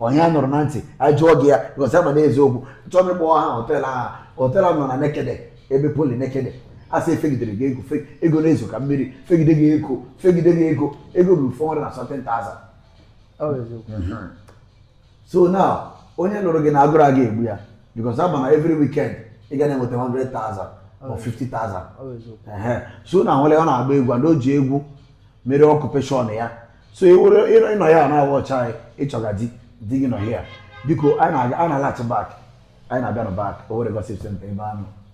onye a nụrụ na ntị ajụọ gị ya gosi ama na eziokwu achọghị m ịkpọwa aha hotel ahụ hotel ahụ nọ na Nekede ebe Poly Nekede a sị e fegidere gị ego fe- ego na-ezo ka mmiri fegide gị ego fegide gị ego ego ruru 417,000 Ọ bụ eziokwu. so now onye lụrụ gị na agụrụ aga egbu ya because a ma na every weekend ị ga na-enweta 100,000 or 50,000 Ọ bụ eziokwu. Ehe. so na nwere ọ na-agba egwu and o ji egwu mere occupation ya so ị were ị nọ ị nọ ya na-awa ọcha anyị ị chọga di di gị nọ here biko anyị na-aga anyị na-alaghachi back anyị na-abịanụ back Owere gossip center ebe anụ